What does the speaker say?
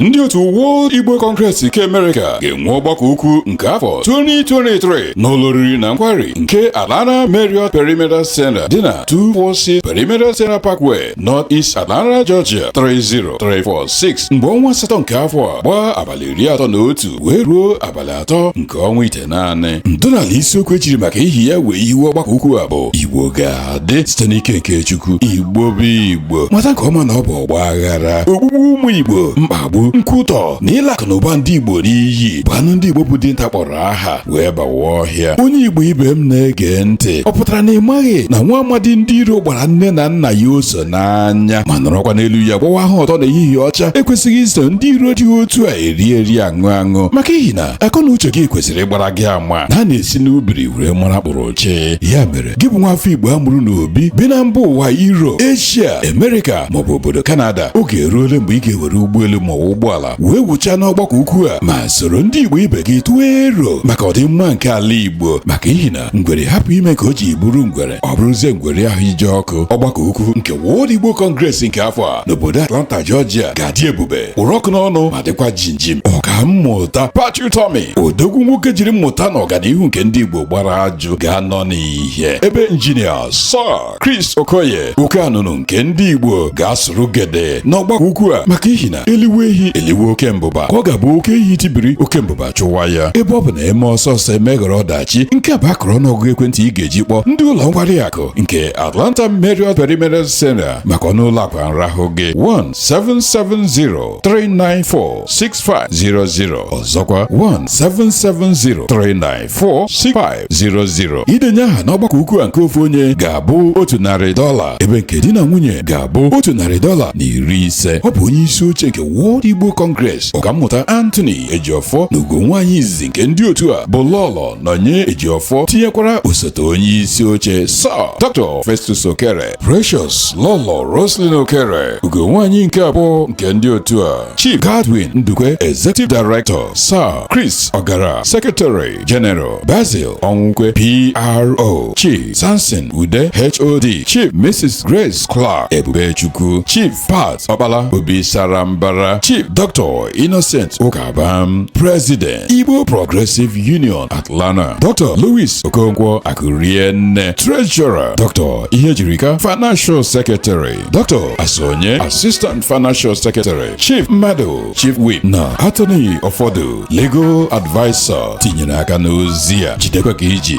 ndị otu World Igbo Congress nke Amerịka ga-enwe ọgbakọ ukwu nke afọ 2023 n'ụlọ oriri na nkwari nke Atlanta Marriott Perimeter Center dị na 246 Perimeter Center Parkway North East Atlanta Georgia 30346 mgbe ọnwa asatọ nke afọ a gbaa abalị iri atọ na otu wee ruo abalị atọ nke ọnwa ite naanị ntọala isiokwu e jiri maka ihi ya wee hiwe ọgbakọ ukwu a bụ igbo ga-adị site n'ike nke chukwu igbo bụ igbo mata nke ọma na ọ bụ ọgba aghara ogbugbu ụmụ igbo mkpagbu nkwutọ na ịla akụ na ụba ndị igbo n'iyi bụ anụ ndị igbo bụ dinta kpọrọ aha wee bawa ọhịa onye igbo ibe m na-ege ntị ọ pụtara na ị maghị na nwa amadi ndị iro gbara nne na nna ya oso n'anya ma nọrọkwa n'elu ya gbawa ahụ ọtọ na ehihie ọcha ekwesịghị iso ndị iro dị otu a eri eri aṅụ aṅụ maka ihi na akọ na uche gị kwesịrị ịgbara gị ama na a na-esi n'ubiri were mara kpụrụ oche ya mere gị bụ nwa afọ igbo a mụrụ n'obi bi na mba ụwa Europe Asia America maọbụ obodo Canada oge eruole mgbe ị ga-ewere ụgbọelu maọbụ ụgbọala wee wuchaa n'ọgbakọ ukwu a ma soro ndị igbo ibe gị tụọ ero maka ọdịmma nke ala igbo maka ihi na ngwere hapụ ime ka o ji bụrụ ngwere ọ bụrụzie ngwere ahụ ije ọkụ ọgbakọ ukwu nke World Igbo Congress nke afọ a n'obodo Atlanta Georgia ga-adị ebube kpụrụ ọkụ n'ọnụ ma dịkwa jinjim ọka mmụta Pat Utomi odogwu nwoke jiri mmụta na ọganihu nke ndị Igbo gbara ajụ ga-anọ n'ihe ebe injinia Sir Chris Okoye oke anụnụ nke ndị Igbo ga-asụrụ gede n'ọgbakọ ukwu a maka ihi na eliwe ehi eliwe oke mbụba ka ọ ga-abụ oke ehi tibiri oke mbụba chụwa ya ebe ọ bụ na eme ọsọ ọsọ emeghọrọ ọdachi nke a bụ akụrụ ọnụọgụgụ ekwentị ị ga-eji kpọọ ndị ụlọ nkwari akụ nke Atlanta Marriott Perimeter Center maka ọnụ ụlọ akwa nrahụ gị 17703946500 ọzọkwa 1770394 6500 idenye aha n'ọgbakọ ukwu a nke ofu onye ga-abụ otu narị dọla ebe nke di na nwunye ga-abụ otu narị dọla na iri ise ọ bụ onye isi oche nke World Igbo Congress ọkammụta Anthony Ejiofor na ugo nwaanyị izizi nke ndị otu a bụ Lọlọ Nonye Ejiofor tinyekwara osote onye isi oche Sir Dr. Festus Okere Precious Lọlọ Roslyn Okere ugo nwaanyị nke abụọ nke ndị otu a Chief Godwin Ndukwe Executive Director Sir Chris Ogara Secretary General Basil Onwukwe PRO Chief Samson Ude HOD Chief Mrs Grace Clark Ebubechukwu Chief Pat Okpala Obi Sarambara Chief Dr Innocent Ukabam President Igbo Progressive Union Atlanta Dr Louis Okonkwo Akurienne Treasurer Dr Ihejirika Financial Secretary Dr. Asonye, Assistant Financial Secretary, Chief Madu, Chief Whip na Attorney Ọfọdụ, Legal Advisor tinyere aka n'ozi a jidekwa ka i ji.